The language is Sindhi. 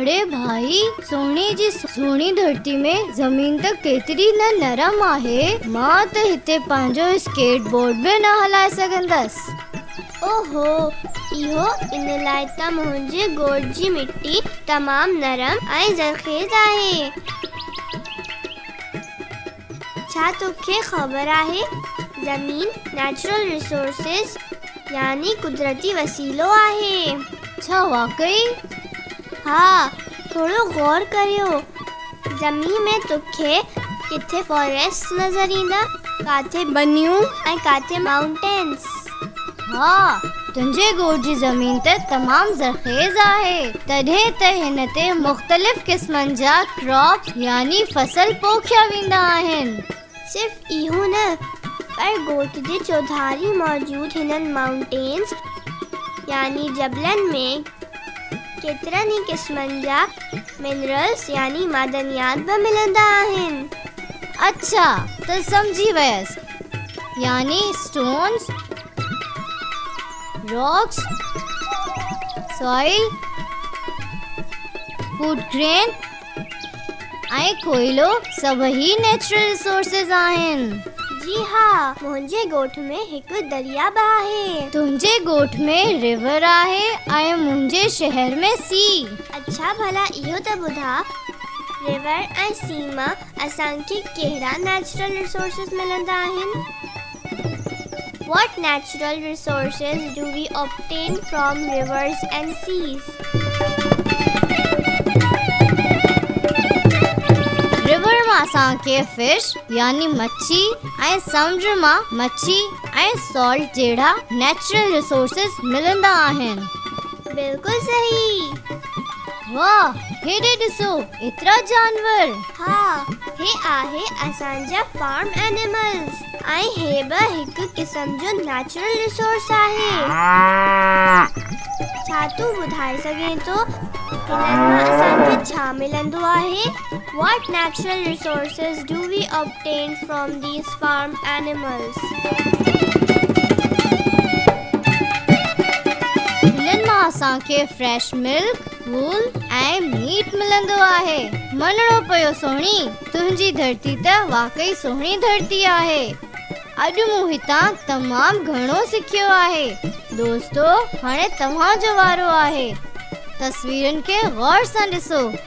اڙي ڀائي سوني جي سهڻي ڌرتي ۾ زمين ته ڪيتري نه نرم آهي مان ته هتي پنهنجو اسڪيٽ بورڊ به نه هلائي سگهندس اوهو اهو ان لاء ته منهنجي ڳوٺ جي مٽي تمام نرم ۽ زرخيز آهي ڇا توکي خبر آهي زمين نيچرل ريسورسز يعني قدرتي وسيلو آهي. ڇا واقعي؟ ها ٿورو غور ڪريو زمين ۾ توکي ڪٿي فاريسٽس نظر ايندا ڪاٿي ٻنيون ۽ ڪاٿي مائونٽينس. ها، تنهنجي ڳوٺ جي زمين ته تمام زرخيز آهي، تڏهن ته هن تي مختلف قسمن جا Crops يعني فصل پوکيا ويندا آهن. صرف اهو نه، پر ڳوٺ جي چوڌاري موجود هنن Mountains يعني جبلن ۾ ڪيترن ئي قسمن جا Minerals يعني معدنيات به ملندا آهن. اڇا، ته سمجهي ويس. يعني stones, rocks, soil, food grain ۽ ڪوئلو سڀئي نيچرل ريسورسز آهن. جي ها، منهنجي ڳوٺ ۾ هڪ درياء به آهي. تنهنجي ڳوٺ ۾ ريور آهي ۽ منهنجي شهر ۾ سي. اڇا ڀلا اهو ته ٻڌاء ريور ۽ سي مان اسان کي ڪهڙا نيچرل ريسورسز ملندا آهن؟ What natural resources do we obtain from rivers and seas? River مان اسان کي فش يعني مڇي ۽ سمنڊ مان مڇي ۽ سالٽ جهڙا نيچرل ريسورسز ملندا آهن. بلڪل صحيح. واه هيڏي ڏسو ايترا جانور. ها هي آهي اسان جا فارم اينيملز ۽ هي به هڪ قسم جو نيچرل ريسورس آهي. ڇا تون ٻڌائي سگهين ٿو هنن مان اسان کي ڇا ملندو آهي؟ What natural resources do we obtain from these farm animals? هنن مان اسان کي فريش ملڪ، وول ۽ ميٽ ملندو آهي. مڃڻو پيو سهڻي، تنهنجي ڌرتي ته واقعي سهڻي ڌرتي آهي. اڄ مون هتان تمام گهڻو سکيو آهي. دوستو هاڻي توهان جو وارو آهي. تصويرن کي غور سان ڏسو.